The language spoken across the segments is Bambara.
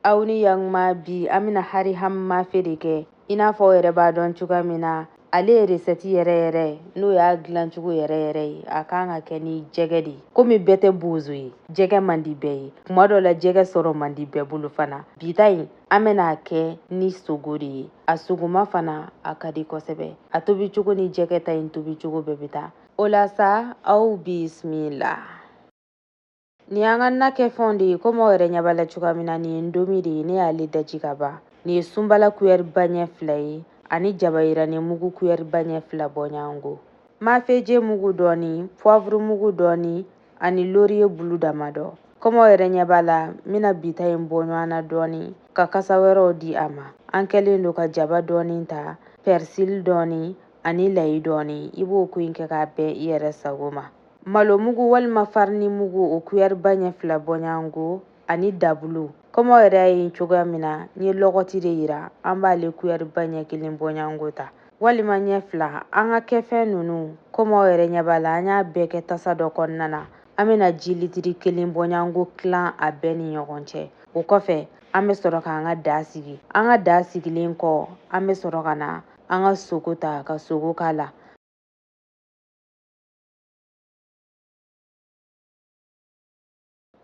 aw ni yakuma bi an bɛna hari ham mafe de kɛ i n'a fɔ aw yɛrɛ b'a dɔn cogoya min na ale ye resɛti yɛrɛ yɛrɛ ye n'o y'a dilancogo yɛrɛ yɛrɛ ye a kan ka kɛ ni jɛgɛ de ye komi bɛɛ tɛ bozo ye jɛgɛ man di bɛɛ ye kuma dɔ la jɛgɛ sɔrɔ man di bɛɛ bolo fana bi ta in an bɛna a kɛ ni sogo de ye a sogoma fana a ka di kosɛbɛ a tobi cogo ni jɛgɛ ta in tobi cogo bɛɛ bɛ taa o la sa aw bisimila Nin y'an ka na kɛfɛnw de ye komi aw yɛrɛ ɲɛ b'a la cogoya min na nin ye ndomi de ye ne y'ale daji ka ban nin ye sunbala kuyɛri ba ɲɛ fila ye ani jaba yirani mugu kuyɛri ba ɲɛ fila bɔɲɔgɔnko mafeje mugu dɔɔni puwavuru mugu dɔɔni ani loriye bulu damadɔ komi aw yɛrɛ ɲɛ b'a la n bɛna bi ta in bɔ ɲɔgɔn na dɔɔni ka kasa wɛrɛw di a ma an kɛlen don ka jaba dɔɔni ta pɛrisili dɔɔni ani layi dɔɔni i b'o ko in kɛ k'a bɛn i yɛrɛ sago ma malo mugu walima farini mugu o kuyɛri ba ɲɛ fila bɔɲango ani dabulu komi aw yɛrɛ y'a ye cogoya min na n ye lɔgɔti de yira an b'ale kuyɛri ba ɲɛ kelen bɔɲango ta walima ɲɛ fila an ka kɛfɛn ninnu komi aw yɛrɛ ɲɛ b'a la an y'a bɛɛ kɛ tasa dɔ kɔnɔna na an bɛna ji litiri kelen bɔɲango tilan a bɛɛ ni ɲɔgɔn cɛ o kɔfɛ an bɛ sɔrɔ k'an ka daa sigi an ka daa sigilen kɔ an bɛ sɔrɔ ka na an ka sogo ta ka sogo k'a la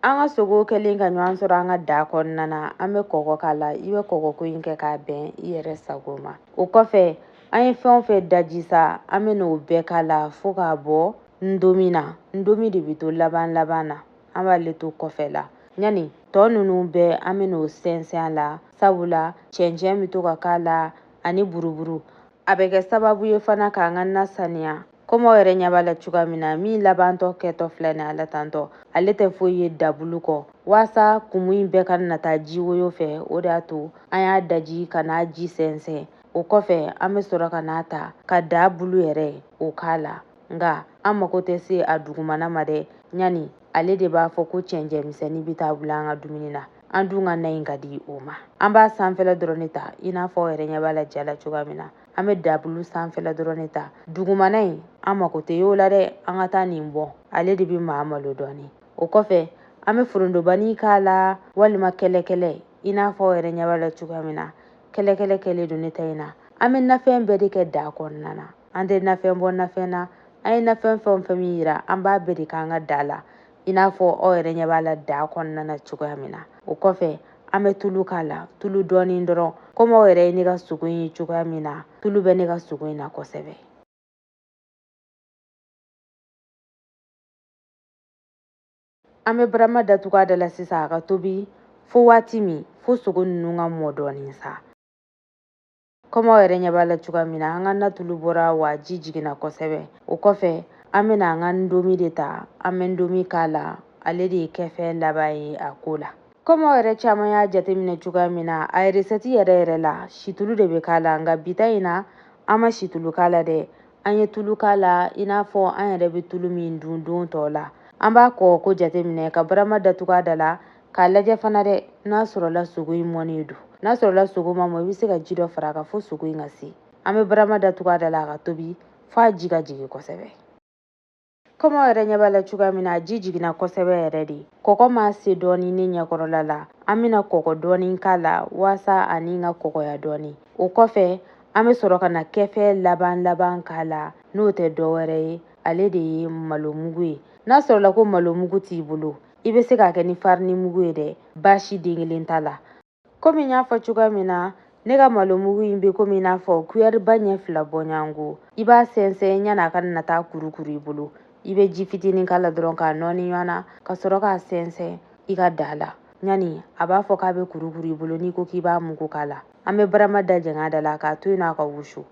An ka sogo kɛlen ka ɲɔgɔn sɔrɔ an ka da kɔnɔna na an bɛ kɔgɔ k'a la i bɛ kɔgɔko in kɛ k'a bɛn i yɛrɛ sago ma o kɔfɛ an ye fɛn o fɛn daji sa an bɛn'o bɛɛ k'a la fo k'a bɔ ndomi na ndomi de bɛ to laban laban na an b'ale to kɔfɛ la ɲani tɔ ninnu bɛɛ an bɛn'o sɛnsɛn a la sabula cɛncɛn bɛ to ka k'a la ani buruburu a bɛ kɛ sababu ye fana k'an ka na saniya komi aw yɛrɛ ɲɛ b'a la cogoya min na min labantɔ kɛtɔ filɛ nin ala tantɔ ale tɛ foyi ye dabulu kɔ waasa kumu in bɛɛ kana taa ji woyo fɛ o de y'a to an y'a daji ka n'a ji sɛnsɛn o kɔfɛ an bɛ sɔrɔ ka n'a ta ka dabulu yɛrɛ o k'a la nka an mako tɛ se a dugumana ma dɛ ɲani ale de b'a fɔ ko cɛncɛn misɛnnin bɛ taa bila an ka dumuni na an dun ka na in ka di o ma an b'a sanfɛla dɔrɔn de ta i n'a fɔ aw yɛrɛ ɲɛ b'a la ja la cogoya min na an bɛ dabulu sanfɛla dɔrɔn de ta dugumana in an mako tɛ y'o la dɛ an ka taa nin bɔ ale de bɛ maa malo dɔɔni o kɔfɛ an bɛ forondobani k'a la walima kɛlɛkɛlɛ i n'a fɔ aw yɛrɛ ɲɛ b'a la cogoya min na kɛlɛkɛlɛ kɛlen don ne ta in na an bɛ nafɛn bɛɛ de kɛ da kɔnɔna na an tɛ nafɛn bɔ nafɛn na an ye nafɛn fɛn o fɛn min yira an b'a bɛɛ de k'an ka da la i n'a fɔ aw yɛrɛ ɲɛ b'a la daa kɔnɔna na cogoya min na o kɔfɛ an bɛ tulu k'a la tulu dɔɔni dɔrɔn komi aw yɛrɛ ye ne ka sogo in ye cogoya min na tulu bɛ ne ka sogo in na kosɛbɛ an bɛ barama datugu a da la sisan a ka tobi fo waati min fo sogo ninnu ka mɔ dɔɔni sa Komi aw yɛrɛ ɲɛ b'a la cogoya min na, an ka na tulu bɔra wa ji jiginna kosɛbɛ. O kɔfɛ, an bɛna an ka ndomi de ta, an bɛ ndomi k'a la, ale de ye kɛfɛn laban ye a ko la. Komi aw yɛrɛ caman y'a jateminɛ cogoya min na, a resɛti yɛrɛ yɛrɛ la, situlu de bɛ k'a la, nka bi ta in na, an ma situlu k'a la dɛ. An ye tulu k'a la i n'a fɔ an yɛrɛ bɛ tulu min dun don tɔw la. An b'a kɔɔko jateminɛ, ka barama datugu a da la, k'a lajɛ fana dɛ n'a sɔrɔla sogo in mɔnen don n'a sɔrɔla sogo ma mɔ i bɛ se ka ji dɔ fara a kan fo sogo in ka se an bɛ barama datugu a da la a ka tobi fo a ji ka jigin kosɛbɛ komi aw yɛrɛ ɲɛ b'a la cogoya min na a ji jiginna kosɛbɛ yɛrɛ de kɔgɔ ma se dɔɔni ne ɲɛkɔrɔla la an bɛna kɔgɔ dɔɔni k'a la waasa ani ka kɔgɔya dɔɔni o kɔfɛ an bɛ sɔrɔ ka na kɛfɛn laban laban k'a la n'o tɛ dɔ wɛrɛ ye ale de ye malo mugu ye n'a sɔrɔla ko malo mugu t'i bolo i bɛ se k'a kɛ ni farini mugu ye dɛ baasi den kelen t'a la komi n y'a fɔ cogoya min na ne ka malo mugu in bɛ komi i n'a fɔ kuyɛriba ɲɛ fila bɔɲɔgɔnko i b'a sɛnsɛn yanni a ka na taa kurukuru i bolo i bɛ ji fitinin k'a la dɔrɔn k'a nɔɔni ɲɔgɔn na ka sɔrɔ k'a sɛnsɛn i ka daa la yanni a b'a fɔ k'a bɛ kurukuru i bolo n'i ko k'i b'a mugu k'a la an bɛ barama da jɛng'a da la k'a to yen nɔ a ka wusu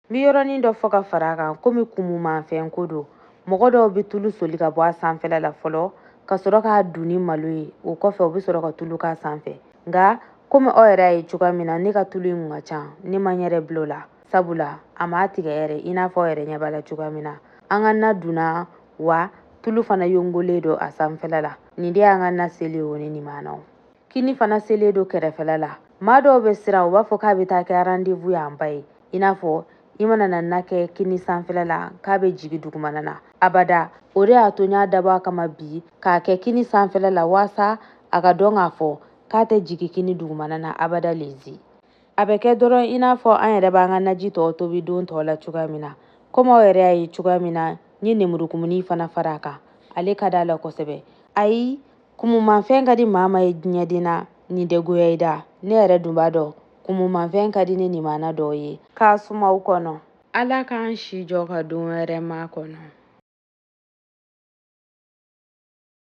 N bɛ yɔrɔnin dɔ fɔ ka fara a kan komi kumumanfɛn ko don mɔgɔ dɔw bɛ tulu soli ka bɔ a sanfɛla la fɔlɔ ka sɔrɔ k'a dun ni malo ye o kɔfɛ u bɛ sɔrɔ ka tulu k'a sanfɛ nka komi aw yɛrɛ y'a ye cogoya min na ne ka tulu in kun ka ca ne ma n yɛrɛ bila o la sabula a m'a tigɛ yɛrɛ i n'a fɔ aw yɛrɛ ɲɛ b'a la cogoya min na an ka na dunna wa tulu fana yongolen don a sanfɛla la nin de y'an ka na selen o ne nimanaw kini fana selen don kɛrɛfɛla la maa dɔw bɛ siran u b'a fɔ k'a bɛ taa kɛ rendez-vous en bas ye i n'a fɔ i mana na na kɛ kini sanfɛla la k'a bɛ jigi dugumana na abada o de y'a to n y'a dabɔ a kama bi k'a kɛ kini sanfɛla la waasa a ka dɔn k'a fɔ k'a tɛ jigi kini dugumana na abada lezi a bɛ kɛ dɔrɔn i n'a fɔ an yɛrɛ b'an ka naji tɔw tobi don tɔw la cogoya min na komi aw yɛrɛ y'a ye cogoya min na n ye nemurukumuni fana fara a kan ale ka d'a la kosɛbɛ ayi Kumumanfɛn ka di maa ma ye diɲɛden na nin tɛ goya i da ne yɛrɛ dun b'a dɔn kumumanfɛn ka di ne nimana dɔw ye k'a suma aw kɔnɔ ala k'an si jɔ ka don wɛrɛ makɔnɔ